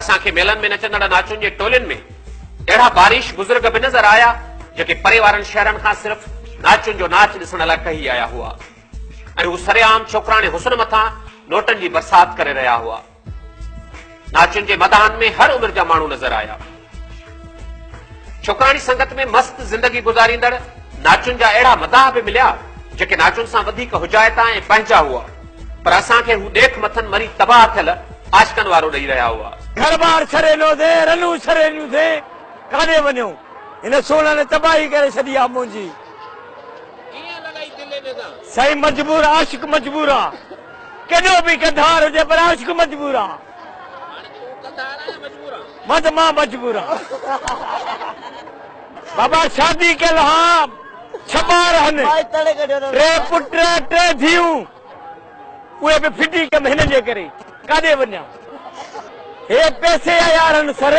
اسان کي ميلن ۾ نچندڙ ناچون جي ٽولين ۾ اهڙا باريش بزرگ به نظر آيا، جيڪي پري وارن شهرن کان صرف ناچون جو ناچ ڏسڻ لاء ٽهي آيا هئا ۽ هو سري عام ڇوڪراڻي حسن مٿان نوٽن جي برسات ڪري رهيا هئا. ناچون جي مداحن ۾ هر عمر جا ماڻهو نظر آيا. ڇوڪراڻي سنگت ۾ مست زندگي گذاريندڙ ناچن جا اهڙا مداح به مليا، جيڪي ناچن سان وڌيڪ حجائتا ۽ پنهنجا هئا، پر اسان کي هو ڏيک مٿن مري تباهه ٿيل عاشقن وارو ڏئي رهيا هئا. گهر ٻار ڇڏي نوسين، رنون ڇڏي نوسين، ڪاڏي وڃون؟ هن سونهن تباهي ڪري ڇڏي آ منهنجي. ڪيئن لڳائي دل ۾ داغ؟ سائين مجبور عاشق مجبور آ. ڪيڏو به گدار هجي پر عاشق مجبور آ. مان ته مان مجبور آن. بابا شادي ڪيل ها ڇهه ٻار هن ٽي پٽ ٽي ڌيئون اهي به ڦٽي ڪم هن جي ڪري ڪاڏي وڃان هي پيسي يا يارن سر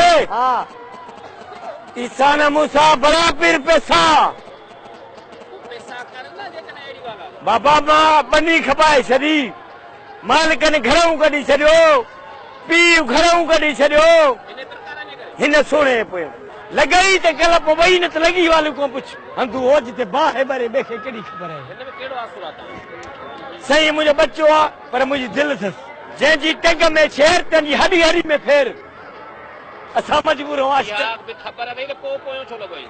عيسا نه موسا بڙا پير پيسا بابا مان ٻني کپائي ڇڏي مالڪن گهرئون ڪڍي ڇڏيو، پيء گهرئون ڪڍي ڇڏيو، هن سهڻي پوء لڳئي ته ڪل پوء ٻئي نه ته لڳي واليون ڪونه پڇ. هنڌون هو جتي باهه ٻري ٻئي کي ڪهڙي خبر آهي. هن ۾ ڪهڙو آسرو آ تنهنجو. سائين منهنجو ٻچو آ پر منهنجي دل اٿس. جنهن جي ٽنگ ۾ ڇير تنهن جي هڏي هڏي ۾ ڦير. اسان مجبور هئاسين ته. اها به خبر اٿئي ته پوء پويون ڇو لڳو آهين.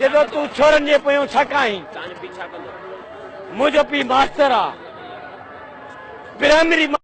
جڏهن تون ڇورن جي پويان ڇا ڪاهين؟ منهنجو پيء ماستر آ. پرائمري مان.